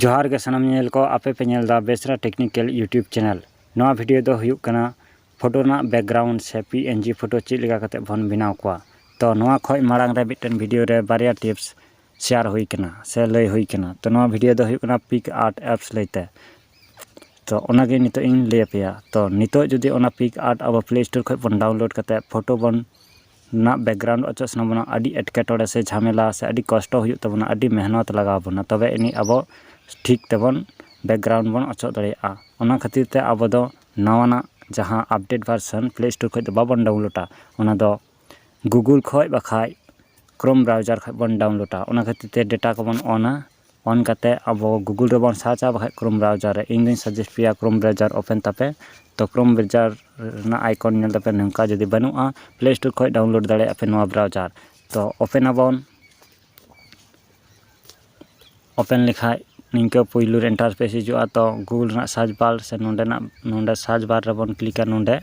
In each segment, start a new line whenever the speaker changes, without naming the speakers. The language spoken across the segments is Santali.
ᱡᱚᱦᱟᱨ ᱜᱮ ᱥᱟᱱᱟᱢ ᱧᱮᱧᱮᱞ ᱠᱚ ᱟᱯᱮ ᱯᱮ ᱧᱮᱞ ᱫᱟ ᱵᱮᱥᱨᱟ ᱴᱮᱠᱱᱤᱠᱮᱞ ᱤᱭᱩᱴᱤᱭᱩᱵᱽ ᱪᱮᱱᱮᱞ ᱱᱚᱣᱟ ᱵᱷᱤᱰᱤᱭᱳ ᱫᱚ ᱦᱩᱭᱩᱜ ᱠᱟᱱᱟ ᱯᱷᱳᱴᱳ ᱨᱮᱱᱟᱜ ᱵᱮᱠᱜᱨᱟᱣᱩᱱᱰ ᱥᱮ ᱯᱤ ᱮᱱ ᱡᱤ ᱯᱷᱳᱴᱳ ᱪᱮᱫ ᱞᱮᱠᱟ ᱠᱟᱛᱮ ᱵᱚᱱ ᱵᱮᱱᱟᱣ ᱠᱚᱣᱟ ᱛᱚ ᱱᱚᱣᱟ ᱠᱷᱚᱡ ᱢᱟᱲᱟᱝ ᱨᱮ ᱢᱤᱫᱴᱮᱱ ᱵᱷᱤᱰᱤᱭᱳ ᱨᱮ ᱵᱟᱨᱭᱟ ᱴᱤᱯᱥ ᱥᱮᱭᱟᱨ ᱦᱩᱭ ᱠᱟᱱᱟ ᱥᱮ ᱞᱟᱹᱭ ᱦᱩᱭ ᱠᱟᱱᱟ ᱛᱚ ᱱᱚᱣᱟ ᱵᱷᱤᱰᱤᱭᱳ ᱫᱚ ᱦᱩᱭᱩᱜ ᱠᱟᱱᱟ ᱯᱤᱠ ᱟᱨᱴ ᱮᱯᱥ ᱞᱟᱹᱭᱛᱮ ᱛᱚ ᱚᱱᱟᱜᱮ ᱱᱤᱛᱚᱜ ᱤᱧ ᱞᱟᱹᱭ ᱟᱯᱮᱭᱟ ᱛᱚ ᱱᱤᱛᱚᱜ ᱡᱩᱫᱤ ᱚᱱᱟ ᱯᱤᱠ ᱟᱨᱴ ᱟᱵᱚ ᱯᱞᱮ ᱥᱴᱳᱨ ᱠᱷᱚᱡ ᱵᱚᱱ ᱰᱟᱣᱩᱱᱞᱳᱰ ᱠᱟᱛᱮ ᱯᱷᱳᱴᱳ ᱵᱚᱱ ᱨᱮᱱᱟᱜ ᱵᱮᱠᱜᱨᱟᱣᱩᱱᱰ ᱚᱪᱚᱜ ᱥᱟᱱᱟ ᱵᱚᱱᱟ ᱟᱹᱰᱤ ᱮᱴᱠᱮᱴᱚᱬᱮ ᱥᱮ ᱡᱷᱟᱢᱮᱞᱟ ᱥᱮ ᱟᱹᱰᱤ ᱠᱚᱥᱴᱚ ᱦᱩᱭᱩᱜ ᱛᱟᱵᱚᱱᱟ ᱟᱹᱰᱤ ᱢᱮᱦᱱᱚᱛ ᱞᱟᱜᱟᱣ ᱵᱚᱱᱟ ᱛᱚᱵᱮ ᱟᱹᱱᱤᱡ ᱟᱵᱚ ᱴᱷᱤᱠ ᱛᱮᱵᱚᱱ ᱵᱮᱠᱜᱨᱟᱣᱩᱱᱰ ᱵᱚᱱ ᱚᱪᱚᱜ ᱫᱟᱲᱮᱭᱟᱜᱼᱟ ᱚᱱᱟ ᱠᱷᱟᱹᱛᱤᱨ ᱛᱮ ᱟᱵᱚ ᱫᱚ ᱱᱟᱣᱟᱱᱟᱜ ᱡᱟᱦᱟᱸ ᱟᱯᱰᱮᱴ ᱵᱷᱟᱨᱥᱮᱱ ᱯᱞᱮ ᱥᱴᱳᱨ ᱠᱷᱚᱱ ᱫᱚ ᱵᱟᱵᱚᱱ ᱰᱟᱣᱩᱱᱞᱳᱰᱟ ᱚᱱᱟ ᱫᱚ ᱜᱩᱜᱩᱞ ᱠᱷᱚᱱ ᱵᱟᱠᱷᱟᱱ ᱠᱨᱳᱢ ᱵᱨᱟᱣᱡᱟᱨ ᱠᱷᱚᱱ ᱵᱚᱱ ᱰᱟᱣᱩᱱᱞᱳᱰᱟ ᱚᱱᱟ ᱠᱷᱟᱹᱛᱤᱨ ᱛᱮ ᱰᱮᱴᱟ ᱠᱚᱵᱚᱱ ᱚᱱᱟ ᱚᱱ ᱠᱟᱛᱮ ᱟᱵᱚ ᱜᱩᱜᱩᱞ ᱨᱮᱵᱚᱱ ᱥᱟᱨᱪᱟ ᱵᱟᱠᱷᱟᱡ ᱠᱨᱳᱢ ᱵᱨᱟᱣᱡᱟᱨ ᱨᱮ ᱤᱧ ᱫᱩᱧ ᱥᱟᱡᱮᱥᱴ ᱯᱮᱭᱟ ᱠᱨᱳᱢ ᱵᱨᱟᱣᱡᱟᱨ ᱳᱯᱮᱱ ᱛᱟᱯᱮ ᱛᱚ ᱠᱨᱳᱢ ᱵᱨᱟᱣᱡᱟᱨ ᱨᱮᱱᱟᱜ ᱟᱭᱠᱚᱱ ᱧᱮᱞ ᱛᱟᱯᱮ ᱱᱚᱝᱠᱟ ᱡᱩᱫᱤ ᱵᱟᱹᱱᱩᱜᱼᱟ ᱯᱞᱮ ᱥᱴᱳᱨ ᱠᱷᱚᱡ ᱰᱟᱣᱩᱱᱞᱳᱰ ᱫᱟᱲᱮᱭᱟᱜᱼᱟ ᱯᱮ ᱱᱚᱣᱟ ᱵᱨᱟᱣᱡᱟᱨ ᱛᱚ ᱳᱯᱮᱱ ᱟᱵᱚᱱ ᱳᱯᱮᱱ ᱞᱮᱠᱷᱟᱡ ᱱᱤᱝᱠᱟᱹ ᱯᱳᱭᱞᱳ ᱨᱮ ᱤᱱᱴᱟᱨᱯᱷᱮᱥ ᱦᱤᱡᱩᱜᱼᱟ ᱛᱚ ᱜᱩᱜᱩᱞ ᱨᱮᱱᱟᱜ ᱥᱟᱨᱪ ᱵᱟᱨ ᱥᱮ ᱱᱚᱰᱮᱱᱟᱜ ᱱᱚᱰᱮ ᱥᱟᱨᱪ ᱵᱟᱨ ᱨᱮᱵᱚᱱ ᱠᱞᱤᱠᱟ ᱱᱚᱰᱮ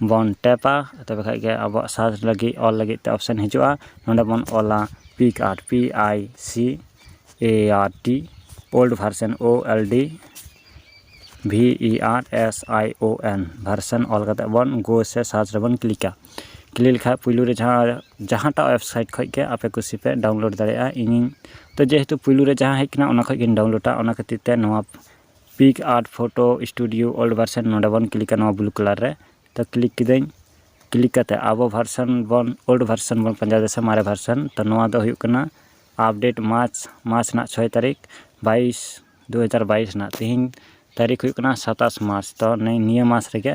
ᱵᱚᱱ ᱴᱮᱯᱟ ᱛᱚᱵᱮ ᱠᱷᱟᱱ ᱜᱮ ᱟᱵᱚᱣᱟᱜ ᱥᱟᱨᱪ ᱞᱟᱹᱜᱤᱫ ᱚᱞ ᱞᱟᱹᱜᱤᱫ ᱛᱮ ᱚᱯᱥᱮᱱ ᱦᱤᱡᱩᱜᱼᱟ ᱱᱚᱰᱮ ᱵᱚᱱ ᱚᱞᱟ PicsArt P I C A R T old version O L D V E R S I O N version ᱚᱞ ᱠᱟᱛᱮᱫ ᱵᱚᱱ ᱜᱳ ᱥᱮ ᱥᱟᱨᱪ ᱨᱮᱵᱚᱱ ᱠᱞᱤᱠᱟ ᱠᱞᱤᱠ ᱞᱮᱠᱷᱟᱱ ᱯᱩᱭᱞᱩ ᱨᱮ ᱡᱟᱦᱟᱸ ᱡᱟᱦᱟᱸᱴᱟᱜ ᱳᱭᱮᱵᱽᱥᱟᱭᱤᱴ ᱠᱷᱚᱱ ᱜᱮ ᱟᱯᱮ ᱠᱩᱥᱤ ᱯᱮ ᱰᱟᱣᱩᱱᱞᱳᱰ ᱫᱟᱲᱮᱭᱟᱜᱼᱟ ᱤᱧᱤᱧ ᱛᱚ ᱡᱮᱦᱮᱛᱩ ᱯᱩᱭᱞᱩ ᱨᱮ ᱡᱟᱦᱟᱸ ᱦᱮᱡ ᱟᱠᱟᱱᱟ ᱚᱱᱟ ᱠᱷᱚᱱ ᱜᱤᱧ ᱰᱟᱣᱩᱱᱞᱳᱰᱟ ᱚᱱᱟ ᱠᱷᱟᱹᱛᱤᱨ ᱛᱮ ᱱᱚᱣᱟ PicsArt photo studio old version ᱱᱚᱰᱮ ᱵᱚᱱ ᱠᱞᱤᱠᱟ ᱱᱚᱣᱟ ᱵᱞᱩ ᱠᱟᱞᱟᱨ ᱨᱮ ᱛᱚ ᱠᱞᱤᱠ ᱠᱤᱫᱟᱹᱧ ᱠᱞᱤᱠ ᱠᱟᱛᱮᱫ ᱟᱵᱚ ᱵᱷᱟᱨᱥᱮᱱ ᱵᱚᱱ ᱳᱞᱰ ᱵᱷᱟᱨᱥᱮᱱ ᱵᱚᱱ ᱯᱟᱸᱡᱟᱭᱮᱫᱟ ᱥᱮ ᱢᱟᱨᱮ ᱵᱷᱟᱨᱥᱮᱱ ᱛᱚ ᱱᱚᱣᱟ ᱫᱚ ᱦᱩᱭᱩᱜ ᱠᱟᱱᱟ ᱟᱯᱰᱮᱴ ᱢᱟᱨᱪ ᱢᱟᱨᱪ ᱨᱮᱱᱟᱜ ᱪᱷᱚᱭ ᱛᱟᱹᱨᱤᱠᱷ ᱵᱟᱭᱤᱥ ᱫᱩ ᱦᱟᱡᱟᱨ ᱵᱟᱭᱤᱥ ᱨᱮᱱᱟᱜ ᱛᱮᱦᱮᱧ ᱛᱟᱹᱨᱤᱠᱷ ᱦᱩᱭᱩᱜ ᱠᱟᱱᱟ ᱥᱟᱛᱟᱥ ᱢᱟᱨᱪ ᱛᱚ ᱱᱤᱭᱟᱹ ᱢᱟᱥ ᱨᱮᱜᱮ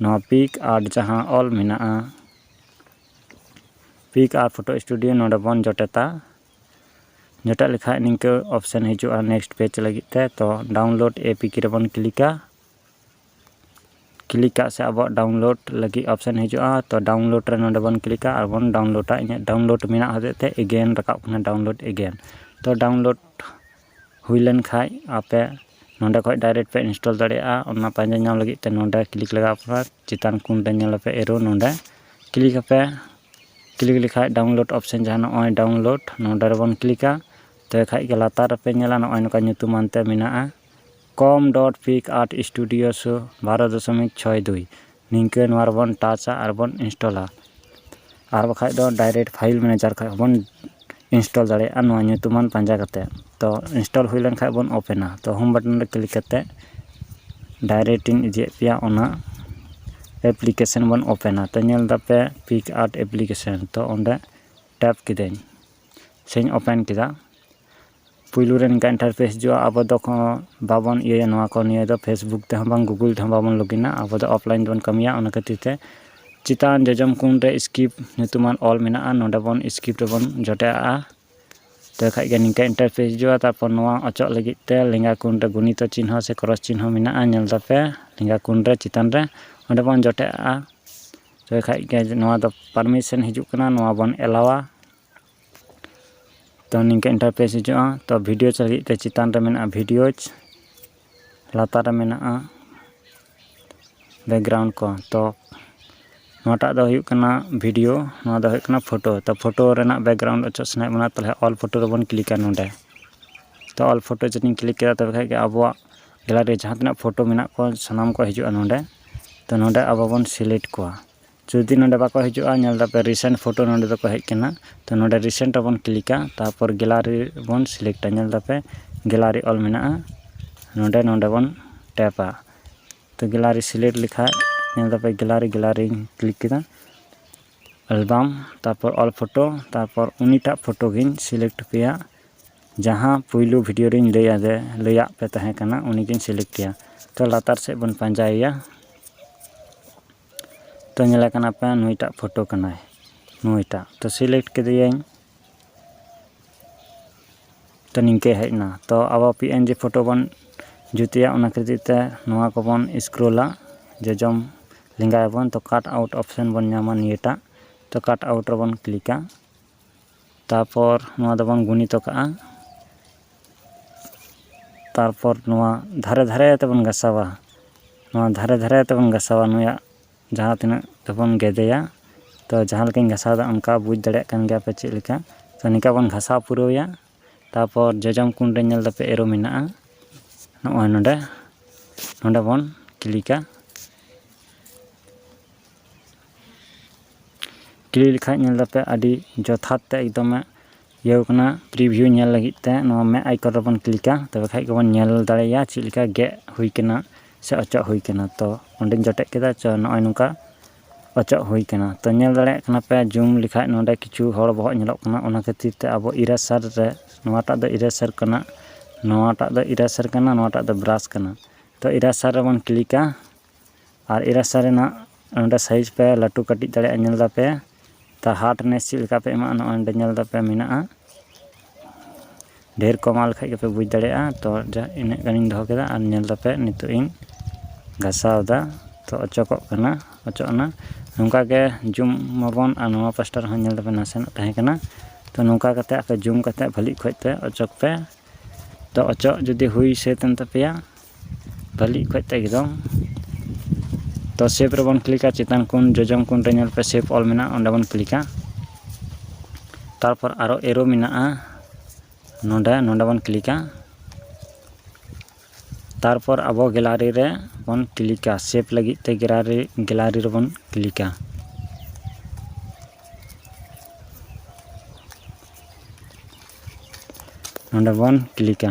ᱱᱚᱣᱟ ᱯᱤᱠ ᱟᱨᱴ ᱡᱟᱦᱟᱸ ᱚᱞ ᱢᱮᱱᱟᱜᱼᱟ ᱯᱤᱠ ᱟᱨ ᱯᱷᱳᱴᱳ ᱥᱴᱩᱰᱤᱭᱳ ᱱᱚᱰᱮ ᱵᱚᱱ ᱡᱚᱴᱮᱛᱟ ᱡᱚᱴᱮᱫ ᱞᱮᱠᱷᱟᱡ ᱱᱤᱝᱠᱟᱹ ᱚᱯᱷᱥᱮᱱ ᱦᱤᱡᱩᱜᱼᱟ ᱱᱮᱠᱥᱴ ᱯᱮᱡᱽ ᱞᱟᱹᱜᱤᱫ ᱛᱮ ᱛᱚ ᱰᱟᱣᱩᱱᱞᱳᱰ ᱮ ᱯᱤ ᱠᱮ ᱨᱮᱵᱚᱱ ᱠᱞᱤᱠᱟ ᱠᱞᱤᱠ ᱠᱟᱜ ᱥᱮ ᱟᱵᱚᱣᱟᱜ ᱰᱟᱣᱩᱱᱞᱳᱰ ᱞᱟᱹᱜᱤᱫ ᱚᱯᱷᱥᱮᱱ ᱦᱤᱡᱩᱜᱼᱟ ᱛᱚ ᱰᱟᱣᱩᱱᱞᱳᱰ ᱨᱮ ᱱᱚᱰᱮ ᱵᱚᱱ ᱠᱞᱤᱠᱟ ᱟᱨ ᱵᱚᱱ ᱰᱟᱣᱩᱱᱞᱳᱰᱟ ᱤᱧᱟᱹᱜ ᱰᱟᱣᱩᱱᱞᱳᱰ ᱢᱮᱱᱟᱜ ᱦᱚᱛᱮᱡ ᱛᱮ ᱮᱜᱮᱱ ᱨᱟᱠᱟᱵ ᱠᱟᱱᱟ ᱰᱟᱣᱩᱱᱞᱳᱰ ᱮᱜᱮᱱ ᱛᱚ ᱰᱟᱣᱩᱱᱞᱳᱰ ᱦᱩᱭ ᱞᱮᱱ ᱠᱷᱟᱡ ᱟᱯᱮ ᱱᱚᱰᱮ ᱠᱷᱚᱡ ᱰᱟᱭᱨᱮᱠᱴ ᱯᱮ ᱤᱱᱥᱴᱚᱞ ᱫᱟᱲᱮᱭᱟᱜᱼᱟ ᱚᱱᱟ ᱯᱟᱸᱡᱟ ᱧᱟᱢ ᱞᱟᱹᱜᱤᱫ ᱛᱮ ᱱᱚᱰᱮ ᱠᱞᱤᱠ ᱞᱟᱜᱟᱣ ᱯᱮ ᱪᱮᱛᱟᱱ ᱠᱚᱱ ᱨᱮ ᱧᱮᱞ ᱟᱯᱮ ᱮᱨᱳ ᱱᱚᱰᱮ ᱠᱞᱤᱠ ᱟᱯᱮ ᱠᱞᱤᱠ ᱞᱮᱠᱷᱟᱡ ᱰᱟᱣᱩᱱᱞᱳᱰ ᱚᱯᱷᱥᱮᱱ ᱡᱟᱦᱟᱸ ᱱᱚᱜᱼᱚᱭ ᱰᱟᱣᱩᱱᱞᱳᱰ ᱱᱚᱰᱮ ᱨᱮᱵᱚᱱ ᱠᱞᱤᱠᱟ ᱛᱚᱵᱮ ᱠᱷᱟᱡ ᱜᱮ ᱞᱟᱛᱟᱨ ᱨᱮᱯᱮ ᱧᱮᱞᱟ ᱱᱚᱜᱼᱚᱭ ᱱᱚᱝᱠᱟ ᱧᱩᱛᱩᱢᱟᱱ ᱛᱮ ᱢᱮᱱᱟᱜᱼᱟ com dot PicsArt studio ᱥᱳ ᱵᱟᱨᱚ ᱫᱚᱥᱚᱢᱤᱠ ᱪᱷᱚᱭ ᱫᱩᱭ ᱱᱤᱝᱠᱟᱹ ᱱᱚᱣᱟ ᱨᱮᱵᱚᱱ ᱴᱟᱪᱟ ᱟᱨ ᱵᱚᱱ ᱤᱱᱥᱴᱚᱞᱟ ᱟᱨ ᱵᱟᱠᱷᱟᱡ ᱫᱚ ᱰᱟᱭᱨᱮᱠᱴ ᱯᱷᱟᱭᱤᱞ ᱢᱮᱱᱮᱡᱟᱨ ᱠᱷᱚᱡ ᱦᱚᱸᱵᱚᱱ ᱤᱱᱥᱴᱚᱞ ᱫᱟᱲᱮᱭᱟᱜᱼᱟ ᱱᱚᱣᱟ ᱧᱩᱛᱩᱢᱟᱱ ᱯᱟᱸᱡᱟ ᱠᱟᱛᱮ ᱛᱚ ᱤᱱᱥᱴᱚᱞ ᱦᱩᱭ ᱞᱮᱱᱠᱷᱟᱡ ᱵᱚᱱ ᱳᱯᱮᱱᱟ ᱛᱚ ᱦᱳᱢ ᱵᱟᱴᱚᱱ ᱨᱮ ᱠᱞᱤᱠ ᱠᱟᱛᱮ ᱰᱟᱭᱨᱮᱠᱴ ᱤᱧ ᱤᱫᱤᱭᱮᱫ ᱯᱮᱭᱟ ᱚᱱᱟ ᱮᱯᱞᱤᱠᱮᱥᱮᱱ ᱵᱚᱱ ᱳᱯᱮᱱᱟ ᱛᱚ ᱧᱮᱞ ᱫᱟᱯᱮ ᱯᱤᱠ ᱟᱨᱴ ᱮᱯᱞᱤᱠᱮᱥᱮᱱ ᱛᱚ ᱚᱸᱰᱮ ᱴᱮᱯ ᱠᱤᱫᱟᱹᱧ ᱥᱮᱧ ᱳᱯᱮᱱ ᱠᱮᱫᱟ ᱯᱩᱭᱞᱩ ᱨᱮ ᱱᱤᱝᱠᱟ ᱤᱱᱴᱟᱨᱯᱷᱮᱥ ᱦᱤᱡᱩᱜᱼᱟ ᱟᱵᱚ ᱫᱚ ᱠᱚᱱᱚ ᱵᱟᱵᱚᱱ ᱤᱭᱟᱹᱭᱟ ᱱᱚᱣᱟ ᱠᱚ ᱱᱤᱭᱟᱹ ᱫᱚ ᱯᱷᱮᱥᱵᱩᱠ ᱛᱮᱦᱚᱸ ᱵᱟᱝ ᱜᱩᱜᱩᱞ ᱛᱮᱦᱚᱸ ᱵᱟᱵᱚᱱ ᱞᱚᱜᱤᱱᱟ ᱟᱵᱚ ᱫᱚ ᱚᱯᱷᱞᱟᱭᱤᱱ ᱛᱮᱵᱚᱱ ᱠᱟᱹᱢᱤᱭᱟ ᱚᱱᱟ ᱠᱷᱟᱹᱛᱤᱨ ᱛᱮ ᱪᱮᱛᱟᱱ ᱡᱚᱡᱚᱢ ᱠᱚᱬ ᱨᱮ ᱥᱠᱤᱯ ᱧᱩᱛᱩᱢᱟᱱ ᱚᱞ ᱢᱮᱱᱟᱜᱼᱟ ᱱᱚᱰᱮ ᱵᱚᱱ ᱥᱠᱤᱯ ᱨᱮᱵᱚᱱ ᱡᱚᱴᱮᱫ ᱟᱜᱼᱟ ᱛᱚᱵᱮ ᱠᱷᱟᱱ ᱜᱮ ᱱᱤᱝᱠᱟ ᱤᱱᱴᱟᱨᱯᱷᱮᱥ ᱦᱤᱡᱩᱜᱼᱟ ᱛᱟᱨᱯᱚᱨ ᱱᱚᱣᱟ ᱚᱪᱚᱜ ᱞᱟᱹᱜᱤᱫ ᱛᱮ ᱞᱮᱸᱜᱟ ᱠᱚᱬ ᱨᱮ ᱜᱩᱱᱤᱛᱚ ᱪᱤᱱᱦᱟᱹ ᱥᱮ ᱠᱨᱚᱥ ᱪᱤᱱᱦᱟᱹ ᱢᱮᱱᱟᱜᱼᱟ ᱧᱮᱞ ᱮᱫᱟᱯᱮ ᱞᱮᱸᱜᱟ ᱠᱚᱬ ᱨᱮ ᱪᱮᱛᱟᱱ ᱨᱮ ᱚᱸᱰᱮ ᱵᱚᱱ ᱡᱚᱴᱮᱫ ᱟᱜᱼᱟ ᱛᱚᱵᱮ ᱠᱷᱟᱱ ᱜᱮ ᱱᱚᱣᱟ ᱫᱚ ᱯᱟᱨᱢᱤᱥᱮᱱ ᱦᱤᱡᱩᱜ ᱠᱟᱱᱟ ᱱᱚᱣᱟ ᱵᱚᱱ ᱮᱞᱟᱣᱟ ᱛᱚ ᱱᱤᱝᱠᱟᱹ ᱤᱱᱴᱟᱨᱯᱷᱮᱥ ᱦᱤᱡᱩᱜᱼᱟ ᱛᱚ ᱵᱷᱤᱰᱤᱭᱳ ᱞᱟᱹᱜᱤᱫ ᱛᱮ ᱪᱮᱛᱟᱱ ᱨᱮ ᱢᱮᱱᱟᱜᱼᱟ ᱵᱷᱤᱰᱤᱭᱳᱡᱽ ᱞᱟᱛᱟᱨ ᱨᱮ ᱢᱮᱱᱟᱜᱼᱟ ᱵᱮᱠᱜᱨᱟᱣᱩᱱᱰ ᱠᱚ ᱛᱚ ᱱᱚᱣᱟᱴᱟᱜ ᱫᱚ ᱦᱩᱭᱩᱜ ᱠᱟᱱᱟ ᱵᱷᱤᱰᱤᱭᱳ ᱱᱚᱣᱟ ᱫᱚ ᱦᱩᱭᱩᱜ ᱠᱟᱱᱟ ᱯᱷᱳᱴᱳ ᱛᱚ ᱯᱷᱳᱴᱳ ᱨᱮᱱᱟᱜ ᱵᱮᱠᱜᱨᱟᱣᱩᱱᱰ ᱚᱪᱚᱜ ᱥᱟᱱᱟᱭᱮᱫ ᱵᱚᱱᱟ ᱛᱟᱦᱚᱞᱮ ᱚᱞ ᱯᱷᱳᱴᱳ ᱨᱮᱵᱚᱱ ᱠᱞᱤᱠᱟ ᱱᱚᱰᱮ ᱛᱚ ᱚᱞ ᱯᱷᱳᱴᱳ ᱡᱩᱫᱤᱧ ᱠᱞᱤᱠ ᱠᱮᱫᱟ ᱛᱚᱵᱮ ᱠᱷᱟᱱ ᱜᱮ ᱟᱵᱚᱣᱟᱜ ᱜᱮᱞᱟᱨᱤ ᱨᱮ ᱡᱟᱦᱟᱸ ᱛᱤᱱᱟᱹᱜ ᱯᱷᱳᱴᱳ ᱢᱮᱱᱟᱜ ᱠᱚᱣᱟ ᱥᱟᱱᱟᱢ ᱠᱚ ᱦᱤᱡᱩᱜᱼᱟ ᱱᱚᱰᱮ ᱛᱚ ᱱᱚᱰᱮ ᱟᱵᱚ ᱵᱚᱱ ᱥᱤᱞᱮᱠᱴ ᱠᱚᱣᱟ ᱡᱩᱫᱤ ᱱᱚᱰᱮ ᱵᱟᱠᱚ ᱦᱤᱡᱩᱜᱼᱟ ᱧᱮᱞ ᱫᱟᱯᱮ ᱨᱤᱥᱮᱱᱴ ᱯᱷᱳᱴᱳ ᱱᱚᱰᱮ ᱫᱚᱠᱚ ᱦᱮᱡ ᱠᱟᱱᱟ ᱛᱚ ᱱᱚᱰᱮ ᱨᱤᱥᱮᱱᱴ ᱨᱮᱵᱚᱱ ᱠᱞᱤᱠᱟ ᱛᱟᱨᱯᱚᱨ ᱜᱮᱞᱟᱨᱤ ᱵᱚᱱ ᱥᱤᱞᱮᱠᱴᱟ ᱧᱮᱞ ᱫᱟᱯᱮ ᱜᱮᱞᱟᱨᱤ ᱚᱞ ᱢᱮᱱᱟᱜᱼᱟ ᱱᱚᱰᱮ ᱱᱚᱰᱮ ᱵᱚᱱ ᱴᱮᱯᱟ ᱛᱚ ᱜᱮᱞᱟᱨᱤ ᱥᱤᱞᱮᱠᱴ ᱞᱮᱠᱷᱟᱡ ᱧᱮᱞ ᱫᱟᱯᱮ ᱜᱮᱞᱟᱨᱤ ᱜᱮᱞᱟᱨᱤᱧ ᱠᱞᱤᱠ ᱠᱮᱫᱟ ᱮᱞᱵᱟᱢ ᱛᱟᱨᱯᱚᱨ ᱚᱞ ᱯᱷᱳᱴᱳ ᱛᱟᱨᱯᱚᱨ ᱩᱱᱤᱴᱟᱜ ᱯᱷᱳᱴᱳ ᱜᱤᱧ ᱥᱤᱞᱮᱠᱴ ᱠᱮᱭᱟ ᱡᱟᱦᱟᱸ ᱯᱩᱭᱞᱩ ᱵᱷᱤᱰᱤᱭᱳ ᱨᱤᱧ ᱞᱟᱹᱭ ᱟᱫᱮ ᱞᱟᱹᱭᱟᱫ ᱯᱮ ᱛᱟᱦᱮᱸ ᱠᱟᱱᱟ ᱩᱱᱤᱜᱤᱧ ᱥᱤᱞᱮᱠᱴ ᱠᱮᱭᱟ ᱛᱚ ᱞᱟᱛᱟᱨ ᱥᱮᱫ ᱵᱚᱱ ᱯᱟᱸᱡᱟᱭᱮᱭᱟ ᱛᱚ ᱧᱮᱞᱮ ᱠᱟᱱᱟ ᱯᱮ ᱱᱩᱭᱴᱟᱜ ᱯᱷᱳᱴᱳ ᱠᱟᱱᱟᱭ ᱱᱩᱭᱴᱟᱜ ᱛᱚ ᱥᱤᱞᱮᱠᱴ ᱠᱮᱫᱮᱭᱟᱹᱧ ᱛᱚ ᱱᱤᱝᱠᱟᱹ ᱦᱮᱡ ᱮᱱᱟ ᱛᱚ ᱟᱵᱚ ᱯᱤ ᱮᱱ ᱡᱤ ᱯᱷᱳᱴᱳ ᱵᱚᱱ ᱡᱩᱛᱮᱜᱼᱟ ᱚᱱᱟ ᱠᱷᱟᱹᱛᱤᱨ ᱛᱮ ᱱᱚᱣᱟ ᱠᱚᱵᱚᱱ ᱥᱠᱨᱳᱞᱟ ᱡᱚᱡᱚᱢ ᱞᱮᱸᱜᱟᱭᱟᱵᱚᱱ ᱛᱚ ᱠᱟᱴ ᱟᱣᱩᱴ ᱚᱯᱷᱥᱮᱱ ᱵᱚᱱ ᱧᱟᱢᱟ ᱱᱤᱭᱟᱹᱴᱟᱜ ᱛᱚ ᱠᱟᱴ ᱟᱣᱩᱴ ᱨᱮᱵᱚᱱ ᱠᱞᱤᱠᱟ ᱛᱟᱨᱯᱚᱨ ᱱᱚᱣᱟ ᱫᱚᱵᱚᱱ ᱜᱩᱱᱤᱛᱚ ᱠᱟᱜᱼᱟ ᱛᱟᱨᱯᱚᱨ ᱱᱚᱣᱟ ᱫᱷᱟᱨᱮ ᱫᱷᱟᱨᱮ ᱛᱮᱵᱚᱱ ᱜᱟᱥᱟᱣᱟ ᱱᱚᱣᱟ ᱫᱷᱟᱨᱮ ᱫᱷᱟᱨᱮ ᱛᱮᱵᱚᱱ ᱜᱟᱥᱟᱣᱟ ᱱᱩᱭᱟᱜ ᱡᱟᱦᱟᱸ ᱛᱤᱱᱟᱹᱜ ᱛᱮᱵᱚᱱ ᱜᱮᱫᱮᱭᱟ ᱛᱚ ᱡᱟᱦᱟᱸ ᱞᱮᱠᱟᱧ ᱜᱟᱥᱟᱣᱫᱟ ᱚᱱᱠᱟ ᱵᱩᱡᱽ ᱫᱟᱲᱮᱭᱟᱜ ᱠᱟᱱ ᱜᱮᱭᱟᱯᱮ ᱪᱮᱫ ᱞᱮᱠᱟ ᱛᱚ ᱱᱤᱝᱠᱟ ᱵᱚᱱ ᱜᱟᱥᱟᱣ ᱯᱩᱨᱟᱹᱣᱮᱭᱟ ᱛᱟᱨᱯᱚᱨ ᱡᱚᱡᱚᱢ ᱠᱚᱬ ᱨᱮ ᱧᱮᱞ ᱫᱟᱯᱮ ᱮᱨᱳ ᱢᱮᱱᱟᱜᱼᱟ ᱱᱚᱜᱼᱚᱭ ᱱᱚᱰᱮ ᱱᱚᱰᱮ ᱵᱚᱱ ᱠᱞᱤᱠᱟ ᱠᱞᱤᱠ ᱞᱮᱠᱷᱟᱡ ᱧᱮᱞ ᱫᱟᱯᱮ ᱟᱹᱰᱤ ᱡᱚᱛᱷᱟᱛ ᱛᱮ ᱮᱠᱫᱚᱢᱮ ᱤᱭᱟᱹᱣ ᱠᱟᱱᱟ ᱯᱨᱤᱵᱷᱤᱭᱩ ᱧᱮᱞ ᱞᱟᱹᱜᱤᱫ ᱛᱮ ᱱᱚᱣᱟ ᱢᱮᱫ ᱟᱭᱠᱚᱱ ᱨᱮᱵᱚᱱ ᱠᱞᱤᱠᱟ ᱛᱚᱵᱮ ᱠᱷᱟᱡ ᱜᱮᱵᱚᱱ ᱧᱮᱞ ᱫᱟᱲᱮᱭᱟᱜᱼᱟ ᱪᱮᱫ ᱞᱮᱠᱟ ᱜᱮᱫ ᱦᱩᱭ ᱠᱟᱱᱟ ᱥᱮ ᱚᱪᱚᱜ ᱦᱩᱭ ᱠᱟᱱᱟ ᱛᱚ ᱚᱸᱰᱮᱧ ᱡᱚᱴᱮᱫ ᱠᱮᱫᱟ ᱛᱚ ᱱᱚᱜᱼᱚᱭ ᱱᱚᱝᱠᱟ ᱚᱪᱚᱜ ᱦᱩᱭ ᱠᱟᱱᱟ ᱛᱚ ᱧᱮᱞ ᱫᱟᱲᱮᱭᱟᱜ ᱠᱟᱱᱟ ᱯᱮ ᱡᱩᱢ ᱞᱮᱠᱷᱟᱡ ᱱᱚᱰᱮ ᱠᱤᱪᱷᱩ ᱦᱚᱲ ᱵᱚᱦᱚᱜ ᱧᱮᱞᱚᱜ ᱠᱟᱱᱟ ᱚᱱᱟ ᱠᱷᱟᱹᱛᱤᱨ ᱛᱮ ᱟᱵᱚ ᱤᱨᱮᱥᱟᱨ ᱨᱮ ᱱᱚᱣᱟᱴᱟᱜ ᱫᱚ ᱤᱨᱮᱥᱟᱨ ᱠᱟᱱᱟ ᱱᱚᱣᱟᱴᱟᱜ ᱫᱚ ᱤᱨᱮᱥᱟᱨ ᱠᱟᱱᱟ ᱱᱚᱣᱟᱴᱟᱜ ᱫᱚ ᱵᱨᱟᱥ ᱠᱟᱱᱟ ᱛᱚ ᱤᱨᱮᱥᱟᱨ ᱨᱮᱵᱚᱱ ᱠᱞᱤᱠᱟ ᱟᱨ ᱮ ᱨᱟᱥᱟ ᱨᱮᱱᱟᱜ ᱱᱚᱰᱮ ᱥᱟᱭᱤᱡᱽ ᱯᱮ ᱞᱟᱹᱴᱩ ᱠᱟᱹᱴᱤᱡ ᱫᱟᱲᱮᱭᱟᱜᱼᱟ ᱧᱮᱞ ᱫᱟᱯᱮ ᱛᱚ ᱦᱟᱨᱰ ᱱᱮᱥ ᱪᱮᱫ ᱞᱮᱠᱟ ᱯᱮ ᱮᱢᱟᱜᱼᱟ ᱱᱚᱜᱼᱚᱭ ᱱᱚᱰᱮ ᱧᱮᱞ ᱫᱟᱯᱮ ᱢᱮᱱᱟᱜᱼᱟ ᱰᱷᱮᱨ ᱠᱚ ᱮᱢᱟᱜ ᱞᱮᱠᱷᱟᱡ ᱜᱮᱯᱮ ᱵᱩᱡᱽ ᱫᱟᱲᱮᱭᱟᱜᱼᱟ ᱛᱚ ᱡᱟ ᱤᱱᱟᱹᱜ ᱜᱟᱱᱤᱧ ᱫᱚᱦᱚ ᱠᱮᱫᱟ ᱟᱨ ᱧᱮᱞ ᱫᱟᱯᱮ ᱱᱤᱛᱚᱜ ᱤᱧ ᱜᱷᱟᱥᱟᱣᱫᱟ ᱛᱚ ᱚᱪᱚᱜᱚᱜ ᱠᱟᱱᱟ ᱚᱪᱚᱜ ᱮᱱᱟ ᱱᱚᱝᱠᱟ ᱜᱮ ᱡᱩᱢ ᱢᱟᱵᱚᱱ ᱟᱨ ᱱᱚᱣᱟ ᱯᱟᱥᱴᱟ ᱨᱮᱦᱚᱸ ᱧᱮᱞ ᱫᱟᱯᱮ ᱱᱟᱥᱮᱱᱟᱜ ᱛᱟᱦᱮᱸ ᱠᱟᱱᱟ ᱛᱚ ᱱᱚᱝᱠᱟ ᱠᱟᱛᱮ ᱟᱯᱮ ᱡᱩᱢ ᱠᱟᱛᱮ ᱵᱷᱟᱹᱞᱤ ᱚᱠᱚᱡ ᱛᱮ ᱚᱪᱚᱜᱽ ᱯᱮ ᱛᱚ ᱚᱪᱚᱜ ᱡᱩᱫᱤ ᱦᱩᱭ ᱥᱟᱹᱛ ᱮᱱ ᱛᱟᱯᱮᱭᱟ ᱵᱷᱟᱹᱞᱤ ᱚᱠᱚᱡ ᱛᱮ ᱮᱠᱫᱚᱢ ᱛᱚ ᱥᱮᱵᱷ ᱨᱮᱵᱚᱱ ᱠᱞᱤᱠᱟ ᱪᱮᱛᱟᱱ ᱠᱚᱱ ᱡᱚᱡᱚᱢ ᱠᱚᱱ ᱨᱮ ᱧᱮᱞ ᱯᱮ ᱥᱮᱵᱷ ᱚᱞ ᱢᱮᱱᱟᱜᱼᱟ ᱚᱸᱰᱮ ᱵᱚᱱ ᱠᱞᱤᱠᱟ ᱛᱟᱨᱯᱚᱨ ᱟᱨᱚ ᱮᱨᱳ ᱢᱮᱱᱟᱜᱼᱟ ᱱᱚᱸᱰᱮ ᱱᱚᱸᱰᱮ ᱵᱚᱱ ᱠᱞᱤᱠᱟ ᱛᱟᱨᱯᱚᱨ ᱟᱵᱚ ᱜᱮᱞᱟᱨᱤ ᱨᱮ ᱵᱚᱱ ᱠᱞᱤᱠᱟ ᱥᱮᱵᱷ ᱞᱟᱹᱜᱤᱫ ᱛᱮ ᱜᱮᱞᱟᱨᱤ ᱜᱮᱞᱟᱨᱤ ᱨᱮᱵᱚᱱ ᱠᱞᱤᱠᱟ ᱱᱚᱸᱰᱮ ᱵᱚᱱ ᱠᱞᱤᱠᱟ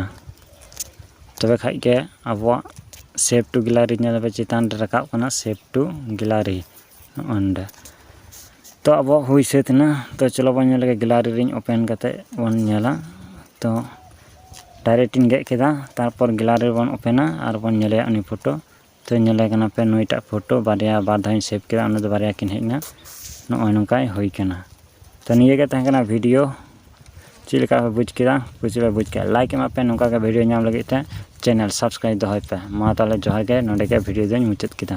ᱛᱚᱵᱮ ᱠᱷᱟᱱ ᱜᱮ ᱟᱵᱚᱣᱟᱜ ᱥᱮᱵᱷ ᱴᱩ ᱜᱮᱞᱟᱨᱤ ᱧᱮᱞ ᱟᱯᱮ ᱪᱮᱛᱟᱱ ᱨᱮ ᱨᱟᱠᱟᱵ ᱠᱟᱱᱟ ᱥᱮᱵᱷ ᱴᱩ ᱜᱮᱞᱟᱨᱤ ᱱᱚᱜᱼᱚᱭ ᱱᱚᱰᱮ ᱛᱚ ᱟᱵᱚᱣᱟᱜ ᱦᱩᱭ ᱥᱟᱹᱛ ᱮᱱᱟ ᱛᱚ ᱪᱚᱞᱚ ᱵᱚᱱ ᱧᱮᱞ ᱞᱮᱜᱮ ᱜᱮᱞᱟᱨᱤ ᱨᱤᱧ ᱳᱯᱮᱱ ᱠᱟᱛᱮᱫ ᱵᱚᱱ ᱧᱮᱞᱟ ᱛᱚ ᱰᱟᱭᱨᱮᱠᱴ ᱤᱧ ᱜᱮᱫ ᱠᱮᱫᱟ ᱛᱟᱨᱯᱚᱨ ᱜᱮᱞᱟᱨᱤ ᱵᱚᱱ ᱳᱯᱮᱱᱟ ᱟᱨ ᱵᱚᱱ ᱧᱮᱞᱮᱭᱟ ᱩᱱᱤ ᱯᱷᱳᱴᱳ ᱛᱚ ᱧᱮᱞᱮ ᱠᱟᱱᱟ ᱯᱮ ᱱᱩᱭᱴᱟᱜ ᱯᱷᱳᱴᱳ ᱵᱟᱨᱭᱟ ᱵᱟᱨ ᱫᱷᱟᱣ ᱤᱧ ᱥᱮᱵᱷ ᱠᱮᱫᱟ ᱚᱱᱟ ᱫᱚ ᱵᱟᱨᱭᱟ ᱠᱤᱱ ᱦᱮᱡ ᱮᱱᱟ ᱱᱚᱜᱼᱚᱭ ᱱᱚᱝᱠᱟ ᱦᱩᱭ ᱠᱟᱱᱟ ᱛᱚ ᱱᱤᱭᱟᱹ ᱜᱮ ᱛᱟᱦᱮᱸ ᱠᱟᱱᱟ ᱵᱷᱤᱰᱤᱭᱳ ᱪᱮᱫ ᱞᱮᱠᱟ ᱯᱮ ᱵᱩᱡᱽ ᱠᱮᱫᱟ ᱠᱩᱥᱤ ᱯᱮ ᱵᱩᱡᱽ ᱠᱮᱫᱟ ᱞᱟᱭᱤᱠ ᱮᱢᱟᱜ ᱯᱮ ᱱᱚᱝᱠᱟ ᱜᱮ ᱵᱷᱤᱰᱤᱭᱳ ᱧᱟᱢ ᱞᱟᱹᱜᱤᱫ ᱛᱮ ᱪᱮᱱᱮᱞ ᱥᱟᱵᱥᱠᱨᱟᱭᱤᱵᱽ ᱫᱚᱦᱚᱭ ᱯᱮ ᱢᱟ ᱛᱟᱦᱚᱞᱮ ᱡᱚᱦᱟᱨ ᱜᱮ ᱱᱚᱰᱮ ᱜᱮ ᱵᱷᱤᱰᱤᱭᱳ ᱫᱚᱧ ᱢᱩᱪᱟᱹᱫ ᱠᱮᱫᱟ